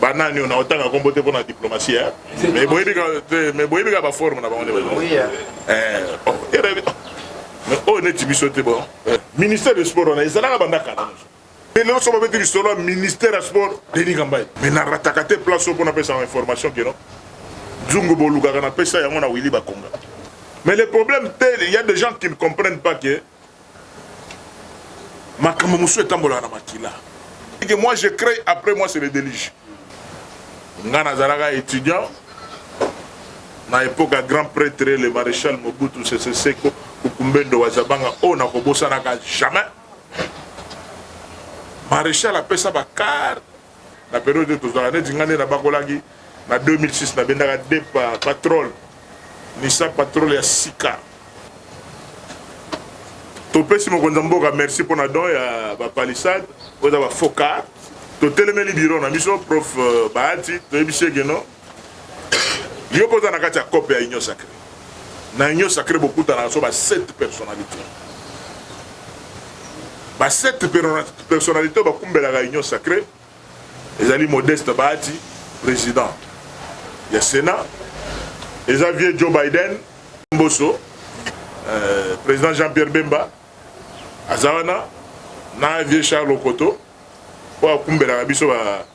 banani oyo naotanga nkombo te mpo na diplomatie eh? mais boyebi mais boyebi kaka baforme na bango nde baoyo neti biso te bon eh, ministère de sport wana ezalaka banda kala mpe lelo so babeti lisolo ya ministère ya sport denis kambai mais narataka te place oyo mpo napesaka information keno nzungu bolukaka napesa yango na willi bakonga mais le problème te il y a des gens qui ne comprennent pas que makambo mosusu etambolaka na makila que moi je crée après moi c'est le déluge nga nazalaka étudiant na époque ya grand prêtre le maréchal mobutu sese seko kukumbendo wazabanga oyo oh, nakobosanaka jamais maréchal apesa bakar na periode oyo tozalaka neti nga nde nabakolaki na 2006 nabendaka de patrole nisa patrole ya sika topesi mokonzi ya mboka merci mpo na don ya bapalissade oyo eza bafoka totelemeli biro na biso prof euh, bahati toyebisi ekeno Yo mpe oza na kati ya cope ya Union Sacrée. Na Union Sacrée bokutanaka so ba sept personnalités. Ba sept personnalités bakumbelaka Union Sacrée ezali Modeste Bahati, président ya Sénat, eza vieux Joe Biden Mboso, euh, président Jean-Pierre Bemba aza wana na vieux Charles Okoto oyo akumbelaka biso ba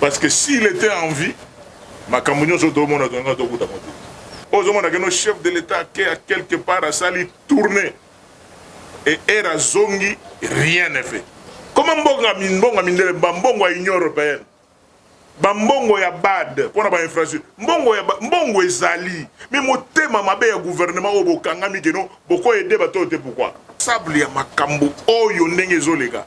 Parce que s'il était en vie, makambo nyonso tomona tonga tokuta moto. Ozomona keno chef de l'État ake à quelque part asali tourner et ere azongi rien ne fait. Koma mbongo ya mbongo ya mindele, ba mbongo ya Union européenne, ba mbongo ya BAD mpo na ba infrastructure, mbongo ya mbongo ezali, mais motema mabe ya gouvernement oyo bokangami keno boko aider bato oyo te pourquoi? Sable ya makambo oyo ndenge ezoleka.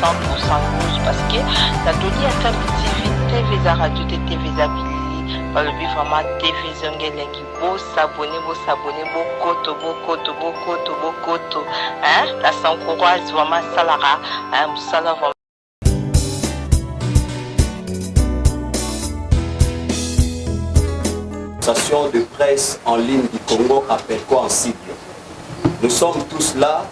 100% news parce que na toli ya Kambi TV TV eza radio te TV eza bilili balobi vraiment TV zonge elengi bosabone bosabone bokoto bokoto bokoto bokoto hein la sans courage vraiment asalaka hein, mosala vraiment de presse en ligne du Congo appelle quoi en cible Nous sommes tous là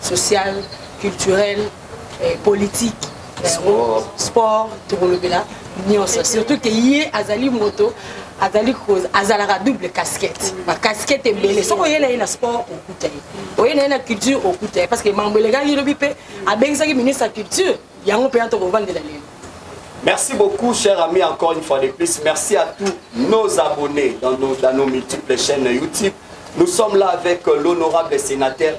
social culturel eh, politique yango sport tokolobela nyonso surtout ke ye azali moto azali azalaka double casquette bacasquette ebele soki oye na ye na sport okuta ye oye na ye na culture okuta ye parce que mambo elekaki lobi mpe abengisaki ministre ya culture yango mpe ya tokovandela lelo Merci beaucoup, chers amis, encore une fois de plus. Merci à tous nos abonnés dans nos, dans nos multiples chaînes YouTube. Nous sommes là avec l'honorable sénateur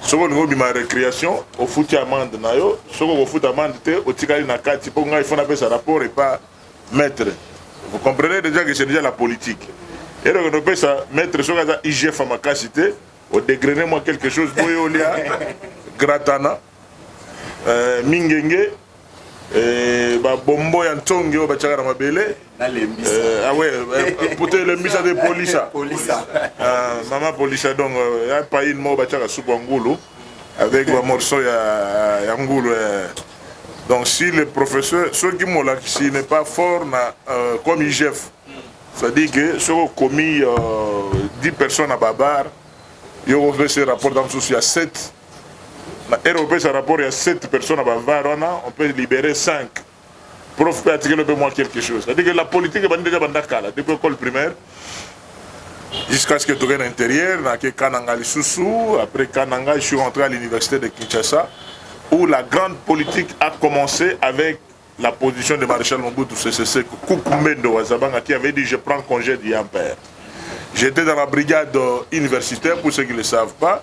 soki olingi obima recreation ofuti amande na yo soki okofuta amande te otikali na kati mpo ngai fo napesa rapport epa maître vous comprenez déjà que c'est déjà la politique eloko nopesa maître soki aza igf makasi te odegrene mwa quelque chose boye olia gratana eh, mingenge eh, babombo ya ntonge oyo batiaka na mabele eh, awe ah eh, poto elembisa te polisa ah, mama polisa donc ya paine moko batiaka supu ya ngulu avec bamorceau ya, ya ngulu eh. donc si le professeur soki molakisi n'est pas fort na euh, comme igf c'est-à-dire que soki okomi euh, 10 personnes na babar yo kopesa rapport ya mosusu ya 7 na ero opesa rapport ya 7 personnes na bavar wana on peut libérer 5 prof mpe atikeli mpe mwa quelque chose c'est-à-dire que la politique ebandi deja banda kala depuis école primaire jusqu'à ce que toke na intérieur nake kananga lisusu après kananga je suis rentré à l'université de kinshasa où la grande politique a commencé avec la position de maréchal Mobutu Sese Seko Kukumbendo Wazabanga qui avait dit je prends congé du père. J'étais dans la brigade universitaire, pour ceux qui ne le savent pas,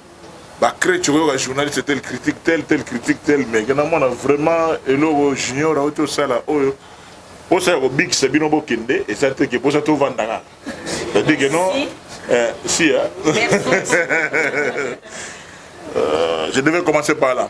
ba crèche okoyoka journaliste tel critique tel tel critique tel mais ke namona vraiment eloko junior auti osala oyo mposa ya kobikisa bino bokende eza te ke mposa tovanda kaka c'est-à-dire que non eh, si hein? Euh, je devais commencer par là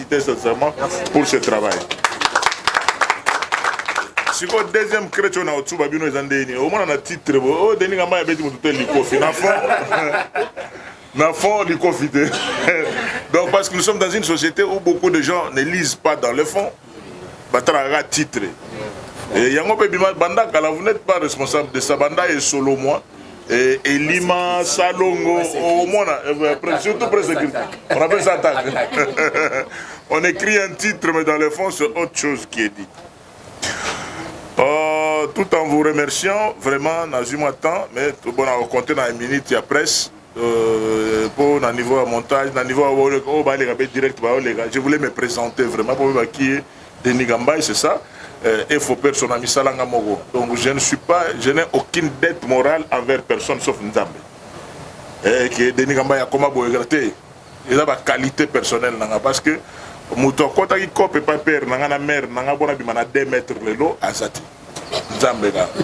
féliciter sincèrement pour ce travail sikoyo deuxième crete oyo na otsuba bino eza ndenge nini omona na titre bo oyo oh, denis kamba ya beti motu te likofi na fond na fond likofi te donc parce que nous sommes dans une société où beaucoup de gens ne lisent pas dans le fond batalaka titre yango mpe bima banda kala vous n'êtes pas responsable de ça banda esolo moi Eh, elima salongo omona oh, eh, eh, surtout presse écrite on appelle ça attaque on écrit un titre mais dans le fond c'est autre chose qui est dit euh, tout en vous remerciant vraiment nazwi mwa temps mais tobona kokonte na minute ya presse mpo euh, na niveau ya montage na niveau oyo oh, baleka mpe direct baoleka je voulais me présenter vraiment mpo baki ye Denis Gambay c'est ça euh, et faut personne ami salanga moko donc je ne suis pas je n'ai aucune dette morale envers personne sauf Nzambe et eh, que Denis Gambay akoma boye te eza ba qualité personnelle nanga parce que moto akotaki cope epai père nanga na mère nanga bona bima na 2 mètres lelo azati nzambe kaka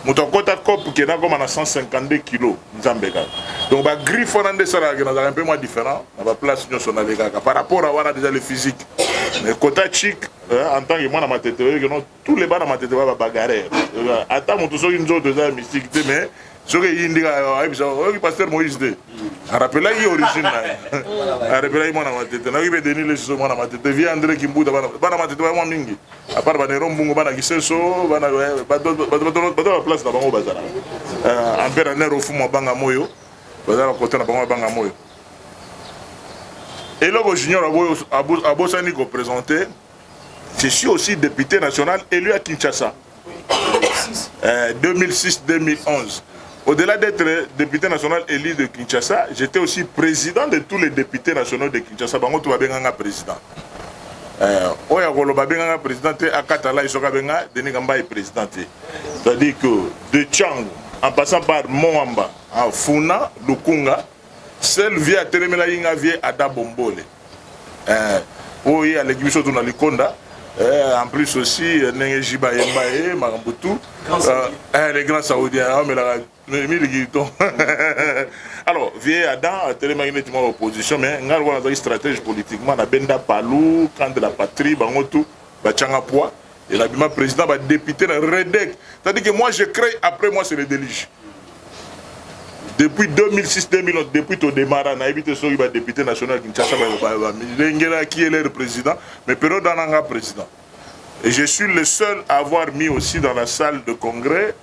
moto akota cope ke nakoma na 152 kilo nzambe kaka donc bagriffe wana nde esalaka ke nazalaka mpe mwa différent na baplace nyonso nalekaka par rapport a wana déjà le physique mais kota chic en tant que mwana matete oyeke non tous les bana matete ba babagarere ata moto soki nzoto eza ya mystique te mais soki eyindi kaka ayebisa oyoki paster moïse te arapelaki origine na ye arapelaki mwana matete nayoki mpe denis lesuso mwana matete vie andre kimbuta bana matete bayamwa mingi apart banero mbungu bana kisenso bana bato ya place na bango bazala euh, ampere aner ofumu abanga moyo bazala kote na bango abanga moyo eloko junior abosani kopresente je suis aussi député national élu à kinshasa 2006 euh, 2011 Au-delà d'être député national élu de Kinshasa, j'étais aussi président de tous les députés nationaux de Kinshasa. Bango tout va bien président. Eh, oyo akoloba abengaka président te akata lai soki abenga denis kambai président te c'est-à-dire que de chango en passant par moamba funa lukunga sel vie atelemelaki nga vie ada bombole eh, oyo ye aleki biso tuna likonda Eh, en plus aussi ndenge jiba yemba ye makambo tout eh, eh, le grand saoudien aomelaka ah, alors vieux adam atelemaki neti mwa opposition mais ngai lokola nazalaki stratégie politiquement na benda palu camp de la patrie bango tout batianga poids et nabima président badepute na redec c'est-à-dire que moi je crée après moi c'est le délige depuis 2006 2011 depuis todemara nayebi te soki badepute national ya kinshasa balengelaki elere président mais période wana nga président et je suis le seul à avoir mis aussi dans la salle de congrès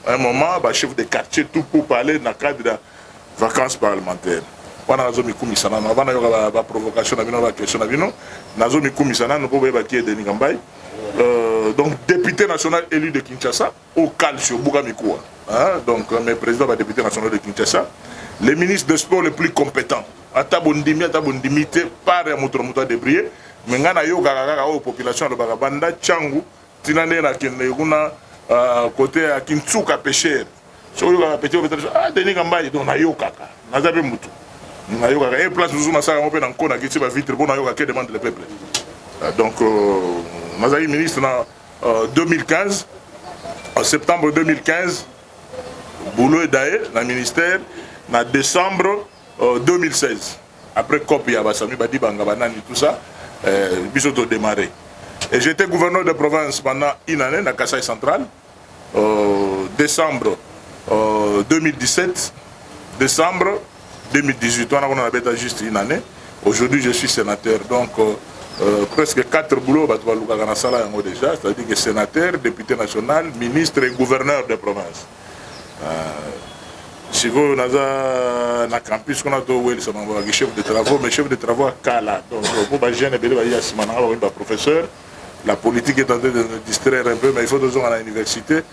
un moment ba chef de quartier tout pour parler na cadre ya vacances parlementaire wana nazomikumisa nano avant nayoka baprovocation na bino baquestion na bino nazomikumisa nano mpo boyeba ki edeni kambai euh, donc député national élu de kinshasa au calcio buka mikuwa donc mais président ba député national de kinshasa le ministre de sport le plus compétent ata bondimi ata bondimi te par ya moto na moto adebriller me ngai nayokaka kaka oyo population alobaka banda cangu tina nde nakende kuna euh, kote ya kinsuka pesher soki oyokaka peti opesa biso ah denis kambai donc nayokaka naza mpe motu nayokaka e place mosusu nasala yango mpe na nko nakiti bavitre mpo nayoka ke demande le peuple euh, donc euh, nazalaki ministre na 2015 en septembre 2015 boulot edaye na ministère na décembre 2016 Après cop ya ba Sami Badibanga ba nani tout ça euh, biso to démarrer. Et j'étais gouverneur de province pendant une année na Kasaï central. Euh, décembre euh, 2017 décembre 2018 wana kuna nabeta juste une année aujourd'hui je suis sénateur donc euh, euh, presque quatre boulot bato balukaka na sala yango déjà c'est-à-dire que sénateur député national ministre et gouverneur de province sikoyo naza na campus kuna towelisa bango baki chef de travaux mais chef de travaux ya kala donc mpo bajeune ebele bayi ya nsima nanga bakomi baprofesseur la politique est en train de nous distraire un peu mais il faut tozonga na université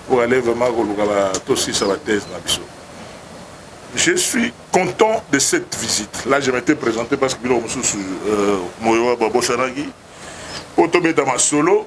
pour aller vraiment koluka tosisa bathèse na biso je suis content de cette visite là je m'étais présenté parce que biloko mosusu euh, moyo babosanaki mpo tobeta masolo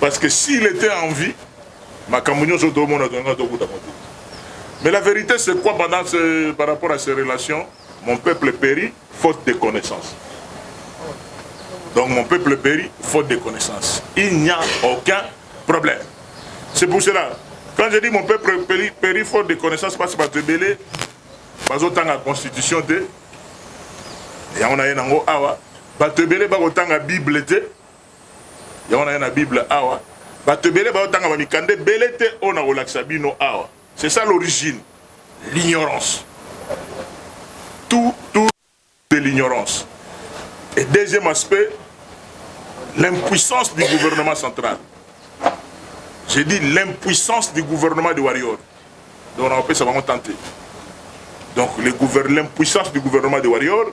Parce que s'il était en vie, makambo nyonso tomona tonga tokuta motu. Mais la vérité c'est quoi pendant ce, par rapport à ces relations Mon peuple périt faute de connaissances. Donc mon peuple périt faute de connaissances. Il n'y a aucun problème. C'est pour cela, quand je dis mon peuple périt, périt faute de connaissances, parce que bato ebele bazotanga constitution te yango na ye nango awa bato ebele bakotanga bible te yango naye na bible awa bato ebele baotanga bamikanda ebele te oyo nakolakisa bino awa c'est ça l'origine l'ignorance tout tout de l'ignorance et deuxième aspect l'impuissance du gouvernement central j'ai dit l'impuissance du gouvernement de warrior donc nakopesa bango tante donc l'impuissance du gouvernement de warrior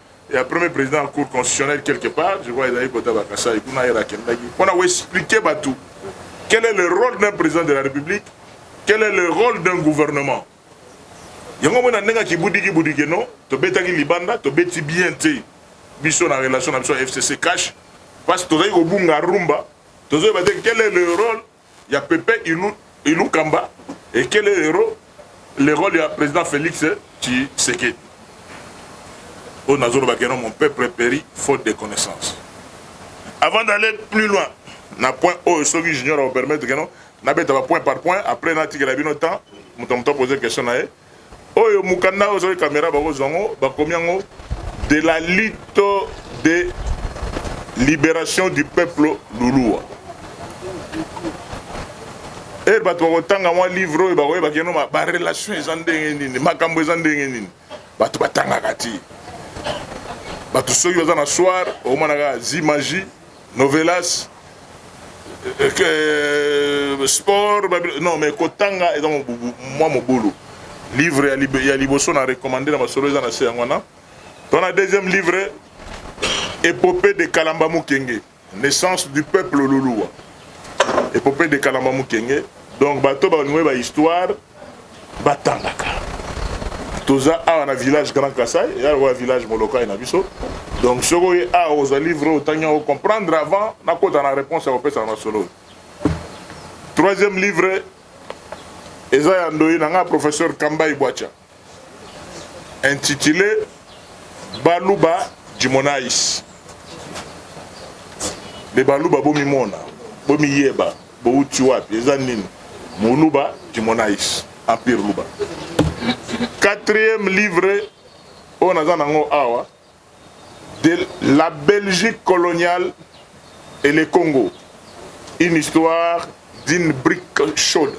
ya premier président ya cour constitutionnelle quelque part je crois ezalaki kota ba kasai kuna yera akendaki mpo na koexplike bato quel est le rôle d'un président de la république quel est le rôle d'un gouvernement yango mona ndenge akibudiki budike no tobetaki libanda tobeti bien te biso na relation na biso ya fcc cash parce tozali kobunga rumba tozoyeba te quel est le rôle ya pepe ilu ilukamba et quel est le le role ya president Felix tshisekedi oyo nazo loba keno mon peuple peri faute de connaissance avant d'aller plus loin na point oyo soki junior au permettre keno na beta ba point par point après na tikela bino temps moto moto poser question na ye Oyo mukanda oyo soki camera bako zua ngo bakomi yango de la lutte de liberation du peuple lulua heure bato bakotanga mwa livre oyo bakoyeba keno ba relation eza ndenge nini makambo eza ndenge nini bato batangaka ti bato soki baza na soir omonaka zimagi Novelas euh, sport non mais kotanga eza mwa mobulu livre ya liboso na recommande na masolo eza na se yango wana to na deuxième livre epopée de kalamba mukenge naissance du peuple luluwa epopée de kalamba mukenge donc bato balingi ba histoire batangaka toza awa na village grand kasai eya lokola village molokai na biso donc soki oye awa ozali vrai otangi yango comprendre avant nakota na réponse ya kopesa na masolo oyo troisième livre eza ya ndoyi na ngai professeur kambai bwacha intitulé baluba jimonais le baluba bomimona bomiyeba Bowuti wapi eza nini muluba kimonais empire luba quatrième livre oyo naza nango awa de la belgique coloniale et le congo une histoire d'une brique chaude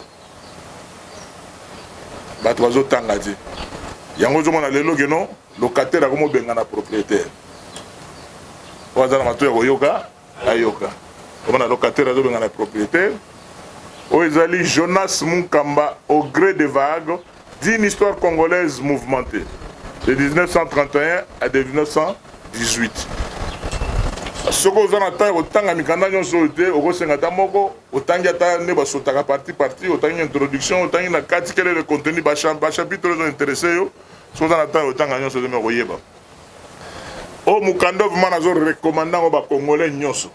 bato bazotanga te yango ozomona lelo keno locataire akomobengana propriétaire oyo aza na mato ya koyoka ayoka omona locataire azobengana propriétaire oyo ezali jonas munkamba au gré de vague d'une histoire congolaise mouvementée de 1931 à de 1918 soki oza na ntango ya kotanga mikanda nyonso oyo te okosenga ata moko otangi ata nde basotaka parti parti otangi introduction otangi na kati kelele contenu bachapitre oyo ezointeresse yo soki oza na ntango ya kotanga nyonso te me okoyeba Oyo mukanda vraiment nazo recommande yango ba congolais nyonso.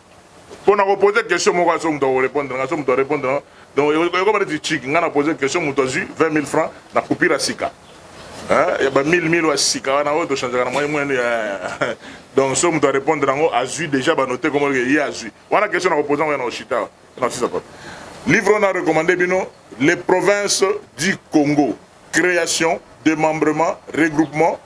Mpo na ko poser question moko aso moto ako répondre nga, aso moto a répondre nga. Donc ekoma neti chiki nga na poser question moto azwi 20 000 francs na coupure ya sika. Hein? Ya ba 1000 1000 ya sika wana oyo to changeaka na moyen moyen ya donc so moto a répondre yango azwi déjà ba note comme que ye azwi. Wana question na ko poser yango na oshita. Na sisa kwa. Livre on a recommandé bino les provinces du Congo. Création, démembrement, regroupement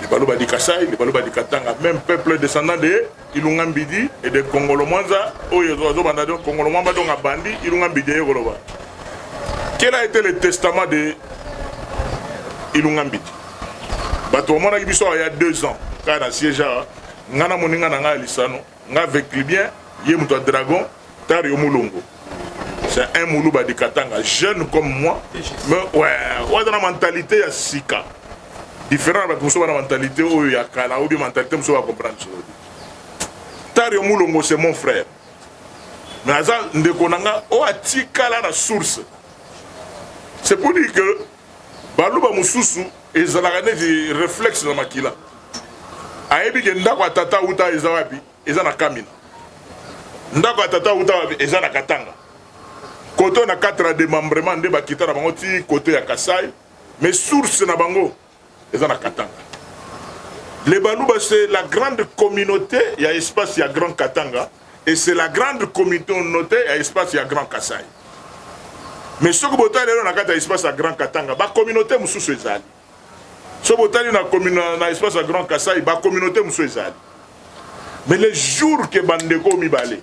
les Baluba du Kassai, les Baluba du Katanga, même peuple descendant de Ilunga Mbidi et de Kongolo Mwanza, oyo ozo banda donc Kongolo Mwamba donc abandi Ilunga Mbidi ye koloba. Quel a été le testament de Ilunga Mbidi? Bato bamonaki biso il y a deux ans, kaka na siège awa, nga na moninga na ngai ya lisano, Nga avec Libyen, ye moto ya Dragon, tari yo mulongo. C'est un muluba de Katanga, jeune comme moi, mais ouais, oza na mentalité ya sika. Différent na bato mosusu bana mentalité oyo ya kala ou bien mentalité mosusu ba comprendre solo. Tari yo mulongo c'est mon frère. Mais aza ndeko na nga oyo atikala na source. C'est pour dire que Baluba mosusu ezalaka neti reflexe na makila. Ayebi ke ndako ya tata uta eza wapi? Eza na Kamina. Ndako ya tata uta wapi? Eza na Katanga. Koto na 4 ya demembrement nde bakita na bango ti koto ya Kasai. Mais source na bango eza na katanga le baluba c'est la grande communauté ya espace ya grand katanga et c'est la grande communauté ya espace ya grand kasai mais soki botali lelo na kati ya espace ya grand katanga bacommunauté mosusu ezali soki botali na, na espace ya grand kasai bacommunauté mosusu ezali mais le jour ke bandeko mibale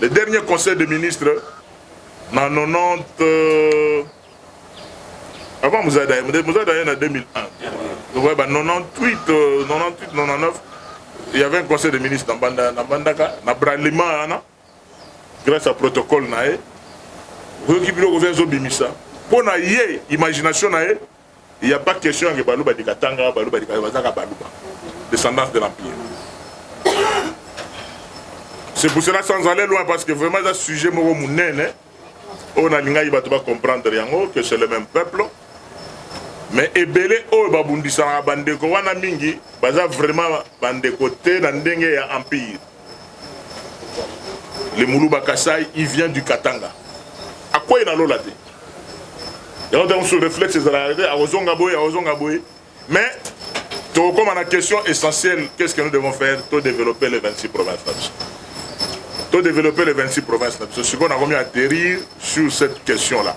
Le dernier conseil de ministre na 90 euh, avant Muzada ye Muzada ye na 2001 donc ouais, bah, 98 euh, 98 99 il y avait un conseil de ministre na Banda na Bandaka na Bralima wana grâce à protocole na ye oyoki biloko vya ezobimisa mpo na ye imagination na ye Il ya pas question ya ke baluba de katanga baluba de katanga baza kaka baluba descendance de l'empire c'est pour cela sans aller loin parce que vraiment eza sujet moko monene oyo nalingaki bato bacomprendre yango que c'est le même peuple mais ebele oyo babundisanaka bandeko wana mingi baza vraiment bandeko te na ndenge ya empire le muluba kasai il vient du katanga akwei na lola te yango ntango mosusu réflexe ezalaka te akozonga boye akozonga boye mais tokokoma na question essentielle qu'est ce que nous devons faire to développer les 26 provinces na biso to développer les 26 provinces na biso sikoyo nakomi atterrir sur cette question là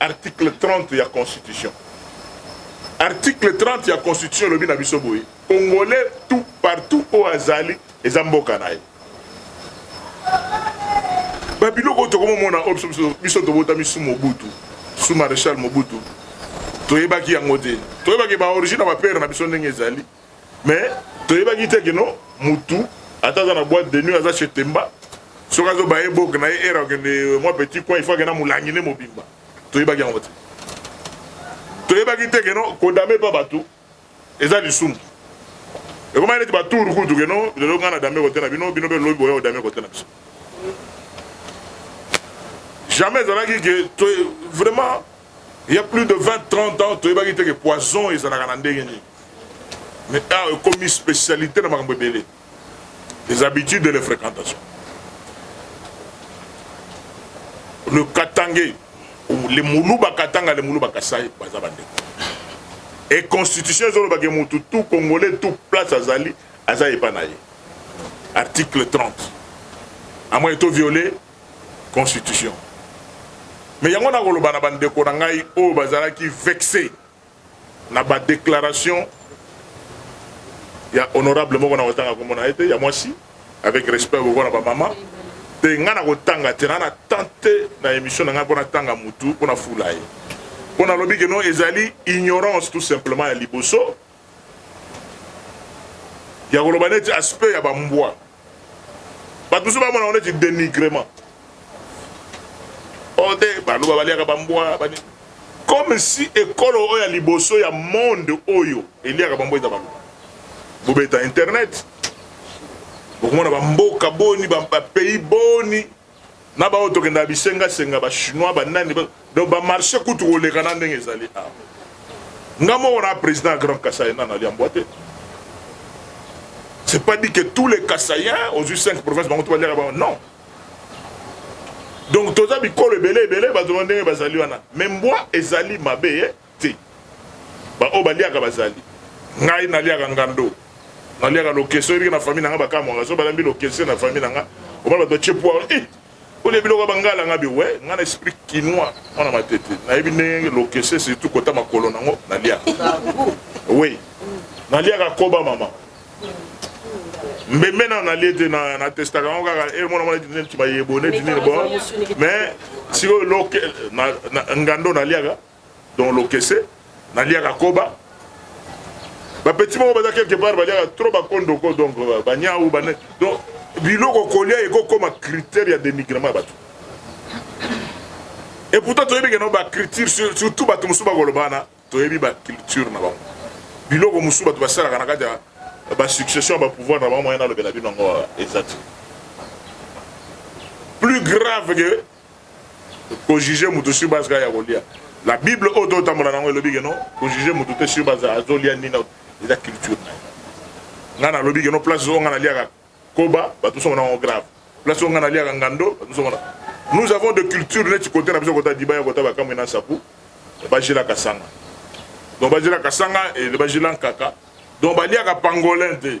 Article 30 ya constitution. Article 30 ya constitution elobi na biso boye, Congolais tout partout oyo azali eza mboka na ye. Ba biloko oyo tokomomona oyo biso biso biso tobotami sous Mobutu, sous Marechal Mobutu. Toyebaki yango te. Toyebaki ba origine ya ba père na biso ndenge ezali. mais toyebaki te kino mutu ata aza na boîte de nuit aza chez Temba soki azo baye boke na ye era okende euh, mwa petit coin il faut akenda molangi nde mobimba toyebaki yango te toyebaki te keno kodame mpa bato eza lisumu ekomaki neti batour kutu keno lelo ngai na dame kote na bino bino mpe lobi boya odame kote na biso jamais ezalaki ke vraiment Il y a plus de 20 30 ans toyebaki te ke poison ezalaka na ndenge nini. Mais awa ekomi spécialité na makambo ebele. Les habitudes et les fréquentations. Le Katangais le muluba katanga le muluba kasai baza bandeko e constitution ezolobake mutu tout congolais tout place azali aza epa na ye article 30 amoni to viole constitution mais yango nakoloba na bandeko na ngai oyo bazalaki vexe na ba declaration ya honorable moko na kotanga kombo na ye te ya mwasi avec respect okokola bamama te ngai nakotanga te na na tante na émission na ngai mpo natanga motu mpo nafula ye mpo nalobi keno ezali ignorance tout simplement ya liboso ya koloba neti aspect ya bambwa bato mosusu bamona yango neti denigrement oyo oh, te baluba baliaka bambwa bani comme si ekolo oyo ya liboso ya monde oyo eliaka bambwa eza baluba bobeta internet bokomona bamboka boni bapays boni na baoyo tokendaka bisengasenga ba chinois ba nani ba- donc ba marché kutu koleka na ndenge ezali awa nga moko na président ya grand kasai nana alia mbwa te c'est pas dit que tous les kasaiens ozwi 5 province bango to baliaka bango non donc toza bikolo ebele ebele bato ba ndenge bazali wana mais mbwa ezali mabe ye Te. Baoyo baliaka bazali. Ngai naliaka ngando. Naliaka lokesse. Oyebi ke na famille na nga bakamwaka. Soki balambi lokesse na famille na nga. Omona bato batie poire. Ih! Eh! Olie biloko ya bangala nga bi. We, nga na esprit kinois. Mwana matete. Nayebi ndenge lokesse surtout kota makolo na ngo. Naliaka. We. Naliaka koba mama. mbembe nano nalie te na testaka yango kaka e eh, mwana mwana neti bayebone tinini bo mais sikoyo loke ngando naliaka Donc lokese na liaka koba ba petit moko baza quelque part ba liaka trop ba kondo ko donc euh, ba nyau ba donc biloko kolia eko koma critère ya dénigrement ya bato et pourtant toyebi ke no ba culture surtout bato mosusu bakolobana toyebi ba culture na bango biloko mosusu bato basalaka na kati ya ba succession ba pouvoir na bango moyen nalobela bino yango euh, eza te plus grave que ko juger mutu sur base kaka ya kolia la bible oyo to tambola nango elobi ke non ko juger mutu te sur base azo lia nini eza culture na nga na lobi ke non place oyo nga na liaka koba bato somo nango grave place oyo nga na liaka ngando bato somo na nous avons de culture neti kote na biso kota dibaya kota bakamwe na sapu bajela kasanga donc bajela kasanga et bajela nkaka donc baliaka pangolin te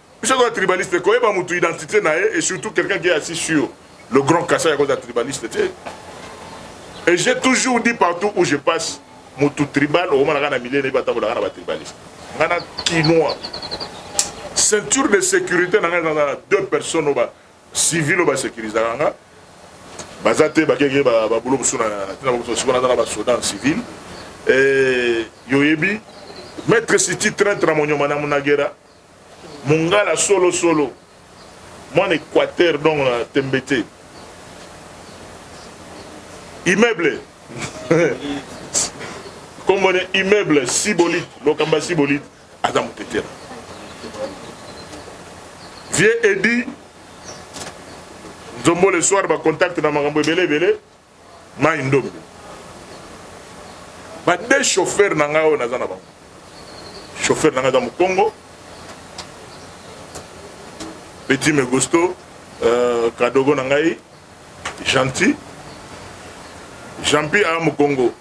biso toza tribaliste koyeba motu identité na ye et surtout quelqu'un qui est assis sur le grand kasa ya koza tribaliste te et j'ai toujours dit partout où je passe motu tribal okomonaka na milieu nayebi atambolaka na batribaliste nga na kinois ceinture de sécurité na ngai ezalaka na deux personnes oyo bacivil oyo basécurisaka nga baza te bakeke babulo mosusu na ntina bakoso sikoyo naza na basoda en civil yoyebi maître siti traintre na monyoma na munagera Mungala solo solo. Mwana Equateur donc na tembe te. Immeuble. Kombo ne immeuble Sibolite, Lokamba Sibolite aza mutetera. Vieux Eddy Nzombo le soir ba contact na makambo ebele ebele. Mai Ndombe. Ba deux chauffeurs na ngai oyo naza na bango. Chauffeur na ngai aza Mukongo. Petit Megusto, euh, Kadogo na ngai, Gentil. Jean-Pierre aza Mukongo.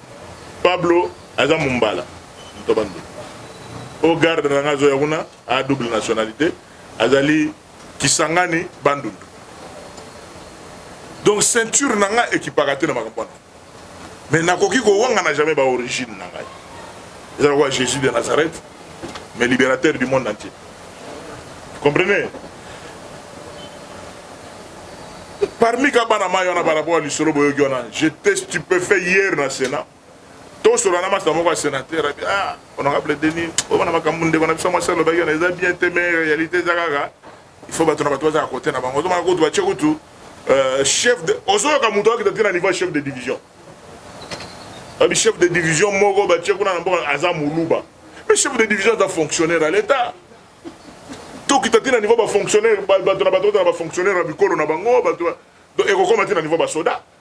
Pablo aza Mumbala. Moto bando. Au garde na ngai azoya kuna, a double nationalité. Azali Kisangani Bandundu donc ceinture na nga ekipaka te na makambo wana mais nakoki kowangana jamais ba origine na ngai eza lokola jésus de nazareth mais libérateur du monde entier comprenez parmi ka bana mai wana barapo ya lisolo boyoki wana j'étais stupéfait hier na sénat tosolola na masta moko ya senateur abi ah honorable denis oyo na makambo ndeko na biso mwasi alobaki na eza bien te mais réalité eza kaka il faut bato na bato bazala kote na bango ozomaka kutu batie kutu euh, chef de ozoyoka moto akita te na niveau ya chef de division abi chef de division moko batie kuna na mboka aza moluba mais chef de division aza fonctionnaire ya l'état tokita te na niveau bafonctionnaire bato na bato na bafonctionnaire ya bikolo na bango bato ekokoma te na niveau basoda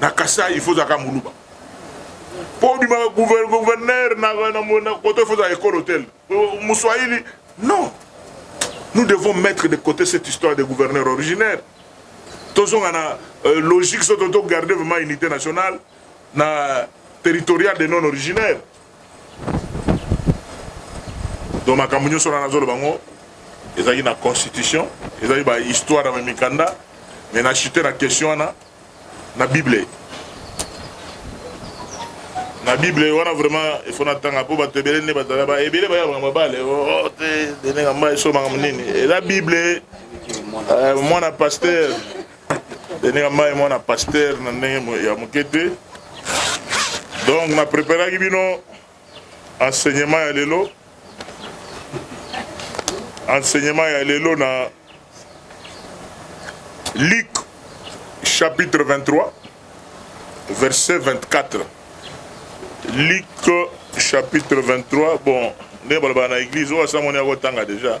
Na Kasaï il faut ozala kaka muluba po obima gouverneur na koto il faut ozala ekolo tel muswahili non nous devons mettre de côté cette histoire de gouverneur originaire tozonga na euh, logique soto to garder vraiment unité nationale na territorial de non originaire donc makambo nyonso wana nazoloba ngo ezalaki na constitution ezalaki ba histoire ya mikanda me na chute na question wana na bible na bible wana vraiment ifo natanga mpo bato ebele nde bazala ba ebele baya makambo babale oh, te denenga mba eso makambo nini eza bible euh, mwana pasteur Denis Mai mwana pasteur na ndenge ya moke te donc na preparaki bino enseignement ya lelo enseignement ya lelo na Luc chapitre 23 verset 24 Luc chapitre 23 bon ndenge balobaka na église oyo asamoni akotanga déjà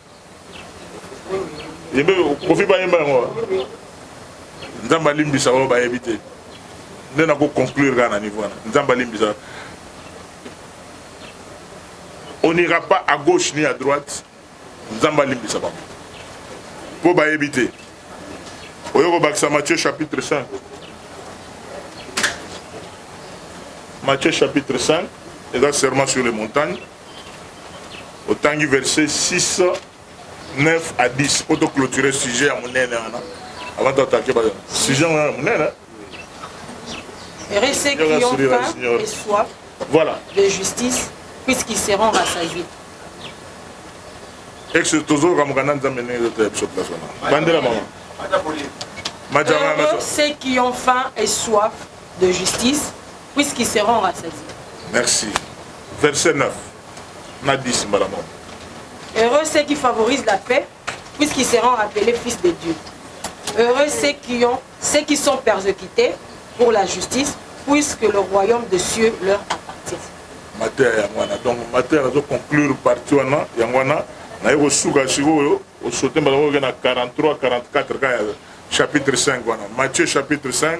yembe kofi bayemba yango nzambe alimbisa oyo bayebi te nde nako conclure kaka na niveau wana nzambe alimbisa on n'ira pas à gauche ni à droite nzambe alimbisa bango mpo bayebi te oyo kobakisa matthieu chapitre 5 matthieu chapitre 5 eza serment sur les montagnes otangi verset 6 9 à 10 mpo toclôture sujet ya monene wana avant toatake ba sujet yango ya monene Restez qui ont faim et soif voilà. de justice, puisqu'ils seront rassasiés. Exo tozo kamuka na nzambe ndenge ezo tela biso place wana bandela mama Heureux ceux qui ont faim et soif de justice, puisqu'ils seront rassasiés. Merci. Verset 9 na 10 mbala moko. Heureux ceux qui favorisent la paix, puisqu'ils seront appelés fils de Dieu. Heureux ceux qui, ont, ceux qui sont persécutés pour la justice, puisque le royaume des cieux leur appartient. mateya yango wana donc mateya nazo conclure parti wana yango wana naye kosuka sikoyo osote mbala oyo na 43 44 ka ya chapitre 5 wana matthieu chapitre 5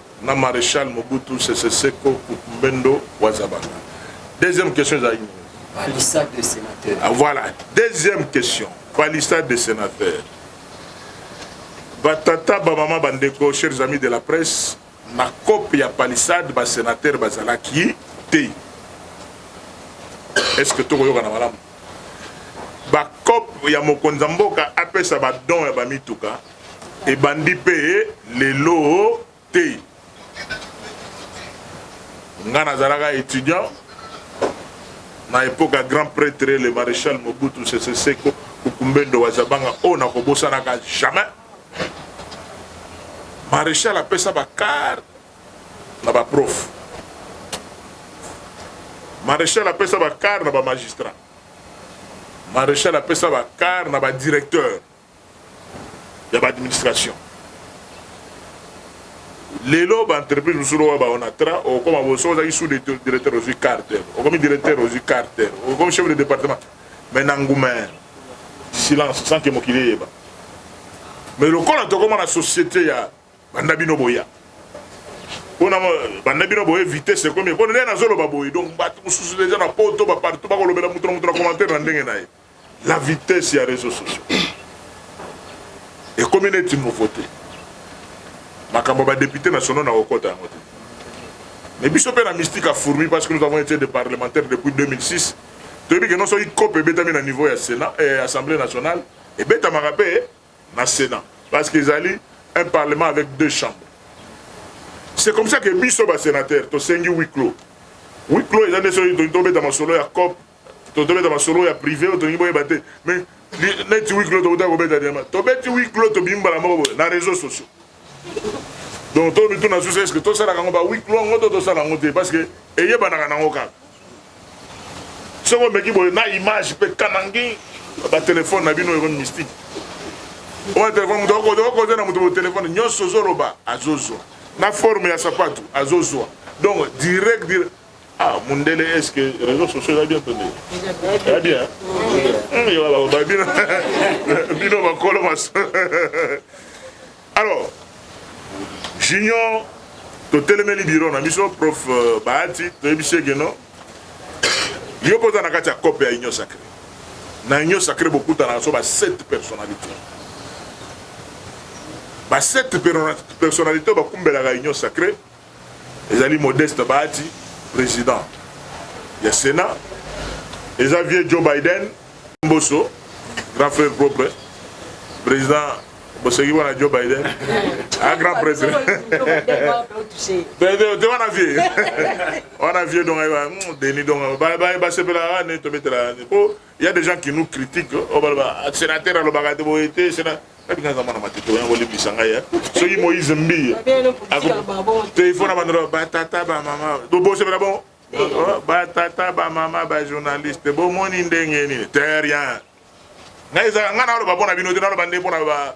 na marechal mobutu sese seko kukumbendo wazabanga deuxième question ezalaki nini palissade de sénateur ah, voilà deuxième question palissade de sénateur batata bamama bandeko chers amis de la presse na cope ya palissade basénateur bazalaki te est ce que tokoyokana malamu bacope ya mokonzi ya mboka apesa badon ya bamituka Ebandi pe lelo te. Nga nazalaka etudiant na epoque ya grand pretre le marechal Mobutu Sese Seko Kukumbendo wa Zabanga oyo nakobosanaka jamais. Marechal apesa ba car na ba prof. Marechal apesa ba car na ba magistrat. Marechal apesa ba car na ba directeur. ya ba administration lelo ba entreprise mosusu lokola ba onatra okoma boso ozalaki sous directeur ozwi carter okomi directeur ozwi carter okomi chef de département mais na nguma silence sans que mokili eyeba mais lokola tokoma na société ya banda bino boya mpona banda bino boye vitesse ekomi mpona nde nazoloba boye donc bato mosusu deja na poto bapartout bakolobela moto na moto na commentaire na ndenge na ye La vitesse ya reseaux sociaux ekomi neti nouveauté makambo ba député nationaux na kokota yango te mais biso mpe na mystique a fourmi parce que nous avons été des parlementaires depuis 2006 toyebi ke non soki cope ebetami na niveau ya sénat eh, assemblée nationale ebetamaka mpe na sénat parce que ezali un parlement avec deux chambres c'est comme ça que biso basénateur tosengi huis clos huis clos eza nde soki tobeta masolo ya cope totobeta masolo ya prive oyo tolingi boyeba te mais neti huis clos tokotaka kobeta diama tobeti huis clos tobimi mbala moko boye na réseaux sociaux donc to mituna susu eske tosalaka yango ba huis clos yango to tosala yango te parce que eyebanaka nango kaka soki omeki boye na image mpe kanangi batelefone na bino ekomi mystique oyo telefone moto okokoza na moto botelefone nyonso ozoloba azozwa na forme ya sapatu azozwa donc direct direct Ah, mundele est-ce que réseaux sociaux eza bien tondele eza bien bino bakolo maso alors junior totelemeli biro na biso prof euh, bahati toyebisi ege no yo mpo oza na kati ya cope ya union sacré na union sacré bokutanaka so ba 7 personnalité ba 7 personnalité oyo bakumbelaka union sacré Ezali Modeste Bahati, president ya Senat. Eza vieux Joe Biden, Mboso, grand frère propre, president boseki wana joe biden a grand prêtre te wana vie wana vie donc ayeba deni donc basepelaka nini tobetela po Il y a des gens qui nous critiquent. Oh, bah, bah, ah, sénateur, alors, bah, de boye, te, sénateur. Kabi nga zamana matito yango le bisanga ya. So yi Moïse mbi. Te il faut na bandro ba tata ba mama. Do bo se bon. Oh, ba tata ba mama ba journaliste. Bo moni ndenge ni. Te rien. Nga iza nga na lo ba bona bino te na lo bande bona ba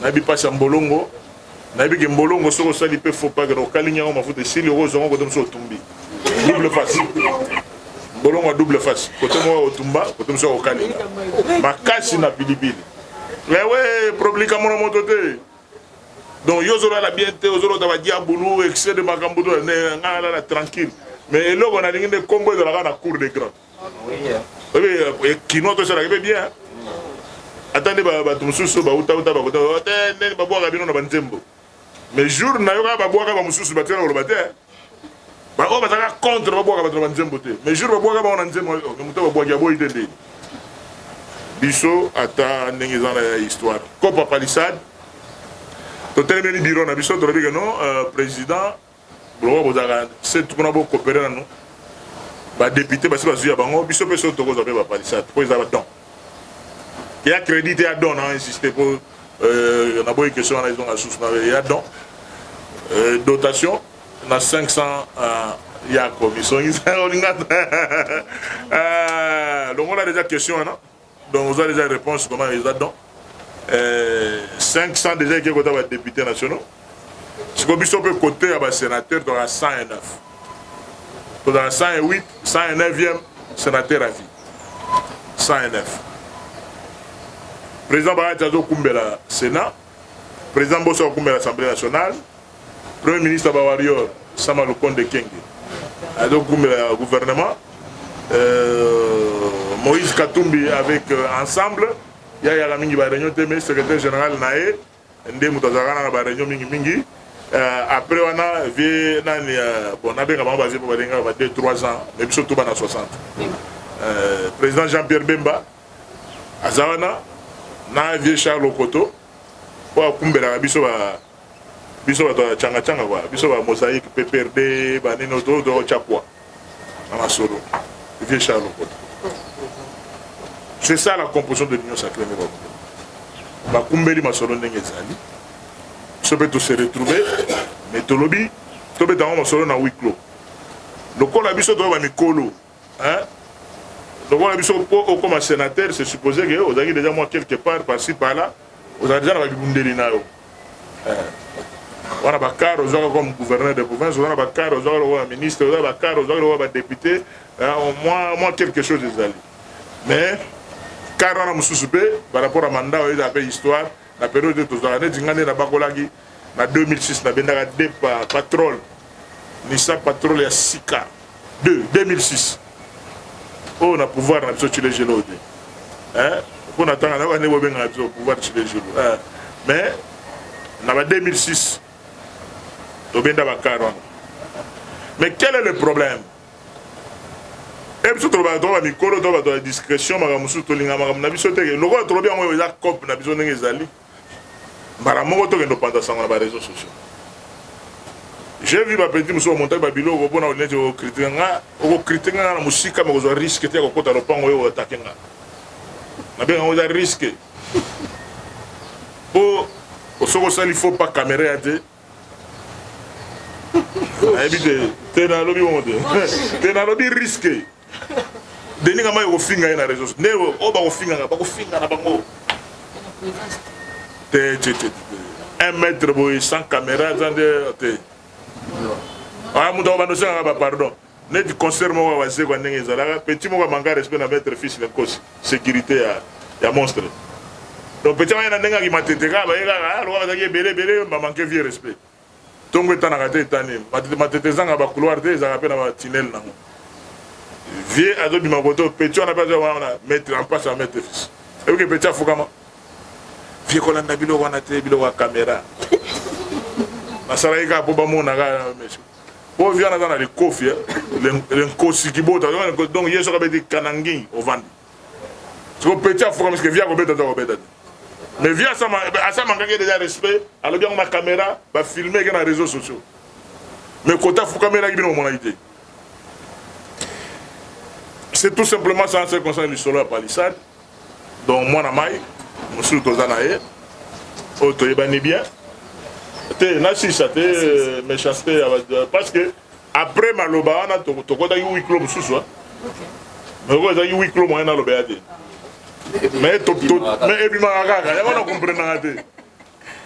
nayebi pasi ya mbolongo nayebi ke mbolongo soki osali pe faux pas kena okalingi yango mafuta esili okozwango kote mosusu otumbi double face mbolongo ya double face kote moko ya kotumba kote mosusu ya kokalinga makasi na pilipili ewe eh problema mona moto te donc yo ozolala bien te ozolota badiabulu excès de makambo to ngai nalala tranquille mais eloko nalingi nde nkombo ezalaka na cour de grand oyebi eh, eh, eh, kinois tosalaka mpe bien ata nde bato mosusu bautauta bakota oh, te ndeni babwaka bino na banzembo mais jour nayoka babwaka bamosusu batikala koloba te baoyo bazalaka contre babwaka bato na banzembo te mais jour babwaka bango na nzembo oh, moto babwaki aboyi te ndeni biso ata ndenge eza na ya histoire copa palissade totelemeli biro na biso tolobi ke non euh, président Pourquoi bozalaka se kuna bo coopere nanu ba depute basi bazwi ya bango biso mpe soki tokozwa mpe bapalisade mpo eza badon ya credit ya don na insiste mpo euh, naboyi question wana ezonga susu na ya don euh, dotation na 500 euh, yako misongisa olinga longola deja question wana donc oza deja réponse comment eza donc euh, 500 deja eke kota ba députés nationaux siko biso mpe kote ya ba sénateur tozala 109 tozala 108 109e sénateur à vie 109 président bayati azokumbela sénat président boso akokumbela assemblée nationale Premier ministre ya ba warrior Sama Lukonde Ekenge azokumela ya gouvernement euh, Moïse Katumbi avec euh, ensemble ya yaka mingi ba réunion te mais secrétaire général na ye nde moto azalaka na ba réunion mingi mingi euh, après wana vie nani euh, bon nabenga bango bazie mpo balingaka ba 2 3 ans mais biso tuba na 60 euh, président Jean Pierre Bemba aza wana na vieux Charles Okoto oyo akumbelaka biso ba biso bato ya changa changa ba biso ba mosaïque PPRD ba nini oto oto chakwa na masolo vieux Charles Okoto c'est ça la composition de l'union sacrée nde bakumbeli bakumbeli masolo ndenge ezali biso mpe tose retrouver mais tolobi tobeta yango masolo na huis clos lokola biso toyeba mikolo hein lokola biso mpo okoma sénateur c'est supposé que ozalaki déjà moi quelque part par ci par là ozala déjà na babibundeli na yo wana bakar ozwaka comme gouverneur de province oza na bakar ozwaka lokola ministre oza na bakar ozwaka lokola badepute mwa mwa quelque chose ezali mais kar wana mosusu mpe par rapport ya mandat oyo ezala mpe histoire na periode oyo tozalaka neti ngai nde nabakolaki Na 2006 nabendaka deux pa patrol Nissan patrol ya sika 2 2006 oyo na pouvoir na biso chile gelo te eh mpo na tanga na bande bobengaka biso pouvoir chile gelo eh mais na ba 2006 tobenda bakar wana mais quel est le problème e biso tolobaka toka bamikolo to bato ya discrétion makambo mosusu tolinga makambo na biso teke lokola tolobi yango eza cope na biso ndenge ezali mbala moko tokende opanza sango na ba réseaux sociaux j'ai vu ba petit mosusu bamontaki ba biloko mpona olineti okritika nga okokritika nga na mosika me kozwa riske te ya kokota lopango oyo atake nga nabenga yango eza riske mpo osoki osali faux pas kamera ya te nayebi te te nalobi bongo te te nalobi riske Denis Kama yo kofinga ye na réseau. Nde o oh, ba kofinga na ba kofinga na bango. Te te te. Un mètre boy sans caméra sans de te. Ah mutu ba notion ba pardon. Neti concert moko wazee kwa ndenge ezalaka petit moko manka respect na maître fils na kosi sécurité ya ya monstre. Donc petit moko na ndenge akimatete kaka ba ye kaka ah, lokola bazalaki ebele ebele ba manque vieux respect. Ntongo etanaka te etani matete matete ezanga ba couloir te ezalaka mpe na ba tunnel nango vieux azobima koto petit wana mpe azoya wana maître en passe ya maître fils eyoki petit afukama vieux kolanda biloko wana te biloko ya camera nasalaki kaka mpo bamona kaka monsieur mpo vieux wana aza na likofi eh. lenkosi kibota donc ye soki abeti kanangi ovandi siko petit afuka miske vie akobeta to akobeta te mais vie asamangaki deja respect alobi yango na caméra bafilme eke na réseau sociaux mais kota afukamelaki bino bomonaki te c'est tout simplement ça ce concerne lisolo ya palissade donc mwana mai mosusu toza na ye oyo toyebani bien te nasilisa te euh, méchanceté parce que Après maloba wana tokotaki huis clos mosusu oyo ezalaki huis clos moyen nalobela te mais ebimaka kaka yango na comprenaka te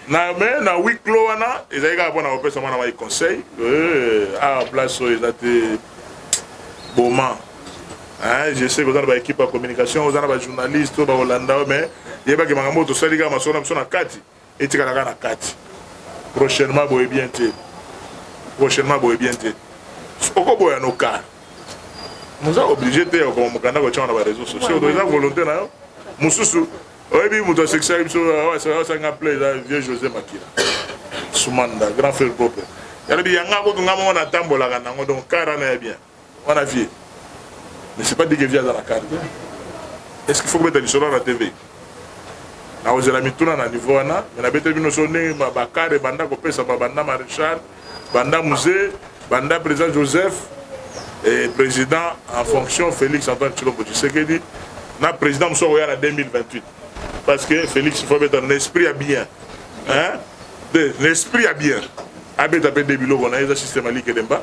na mais na huis clos wana ezali kaka mpo na kopesa mwana mai conseil eh, awa ah, place oyo eza te boma Hein, je sais que oza na baekipe ya communication oza na bajournaliste oyo bakolanda yo mais yebaki makambo oyo tosali kaka masolo na biso na kati etikala kaka na kati prochainement boye bien te prochainement boye bien te okoboya no kar moza oblige te ya kokoma mokanda kotyama na bareseau sociaux to eza volonté na yo mosusu oyebi moto asekisaki biso asanga pla eza vieux josé makila sumanda grand frère bope yalobi yanga kutu nga moko natambolaka nango donc kar wana ya bien Wana vie mais c'est pas dit que vie aza na car te est ce qu'il faut kobeta lisolo na tv nakozela mituna na niveau wana mais nabeteli bino so ndenge bakare banda kopesama banda maréchal banda musée banda président joseph et président en fonction félix antoine tshilombo tshisekedi na président mosusu akoya na 2028 parce que félix faut abeta na esprit ya bien hein? na esprit ya bien abeta mpe nde biloko na ye eza système alike demba